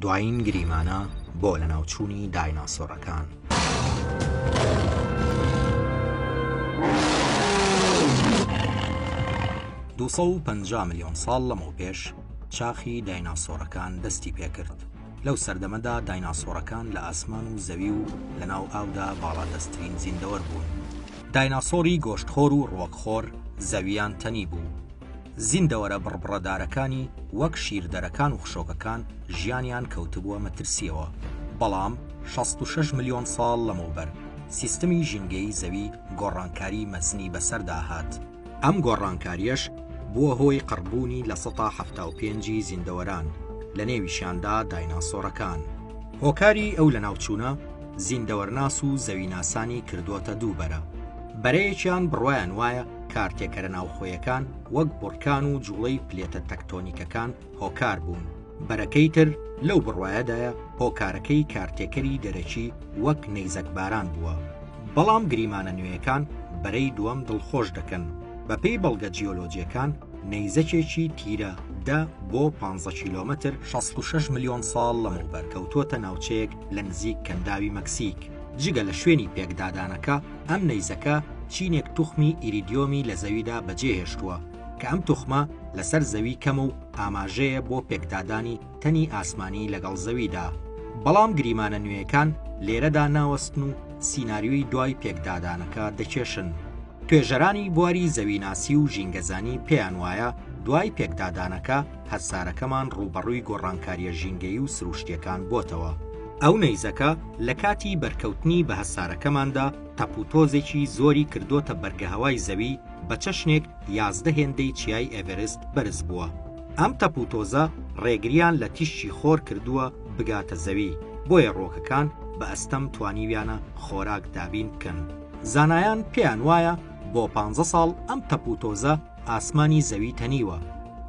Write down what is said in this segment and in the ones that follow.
دوایین گریمانە بۆ لەناوچوونی دایناسۆرەکان. دوو سەد و پەنجا ملیۆن ساڵ لەمەوپێش چاخی دایناسۆرەکان دەستی پێکرد، لەو سەردەمەدا دایناسۆرەکان لە ئاسمان و زەوی و لەناو ئاودا باڵادەستترین زیندەوەر بوون. دایناسۆری گۆشتخۆر و ڕووەکخۆر زەوییان تەنیبوو. زیندەوەرە بڕبڕەدارەکانی وەک شیردەرەکان و خشۆکەکان ژیانیان کەوتبووە مەترسییەوە، بەڵام شەست و شەش ملیۆن ساڵ لەمەوبەر سیستمی ژینگەیی زەوی گۆڕانکاریی مەزنی بەسەردا هات، ئەم گۆڕانکارییەش بووە هۆی قڕبوونی لە سەتا حەفتا و پێنج ی زیندەوەران، لەنێویشیاندا دایناسۆرەکان. هۆکاری ئەو لەناوچوونە زیندەوەرناس و زەویناسانی کردووەتە دوو بەرە، بەرەیەکیان بڕوایان وایە، کارتێکەرە ناوخۆیەکان وەک بڕکان و جوڵەی پلێتە تەکتۆنیکەکان هۆکار بوون بەرەکەی تر لەو بڕواایەدایە هۆکارەکەی کارتێکەری دەرەکی وەک نەیزەکباران بووە بەڵام گریمانە نوێیەکان بەرەی دووەم دڵخۆش دەکەن بەپێی بەڵگە جیۆلۆجیەکان نەیزەکێکی تیرە دە بۆ 15 کیلومتر 66 ملیۆن ساڵ لەمەوبەر کەوتووەتە ناوچەیەک لە نزیک کەنداوی مەکسیک جگە لە شوێنی پێکدادانەکە ئەم نەیزەکە چینێک توخمی ئیریدیۆمی لە زەویدا بەجێهێشتووە کە ئەم توخمە لەسەر زەوی کەمە و ئاماژەیە بۆ پێکدادانی تەنی ئاسمانی لەگەڵ زەویدا. بەڵام گریمانە نوێیەکان لێرەدا ناوەستن و سیناریۆی دوای پێکدادانەکە دەکێشن. توێژەرانی بواری زەویناسی و ژینگەزانی پێیان وایە دوای پێکدادانەکە هەسارەکەمان ڕووبەڕووی گۆڕانکارییە ژینگەیی و سرووشتییەکان بۆتەوە. ئەو نەیزەکە لە کاتی بەرکەوتنی بە هەسارەکەماندا تەپوتۆزێکی زۆری کردۆتە بەرگەهەوای زەوی بە چەشنێک یازدە هێندەی چیای ئێڤرست بەرز بووە. ئەم تەپوتۆزە ڕێگریان لە تیشکی خۆر کردووە بگاتە زەوی، بۆیە ڕووەکەکان بە ئەستەم توانیویانە خۆراک دابین بکەن. زانایان پێیان وایە بۆ پانزە ساڵ ئەم تەپوتۆزە ئاسمانی زەوی تەنیوە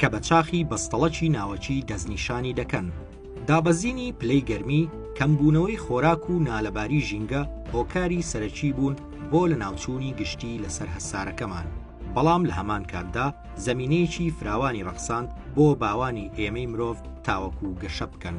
کە بە چاخی بەستەڵەکی ناوەکی دەستنیشانی دەکەن. دابەزینی پلەی گەرمی، کەمبوونەوەی خۆراک و نالەباری ژینگە هۆکاری سەرەکی بوون بۆ لەناوچوونی گشتی لەسەر هەسارەکەمان، بەڵام لە هەمان کاتدا زەمینەیەکی فراوانی ڕەخساند بۆ باوانی ئێمەی مرۆڤ تاوەکو گەشە بکەن.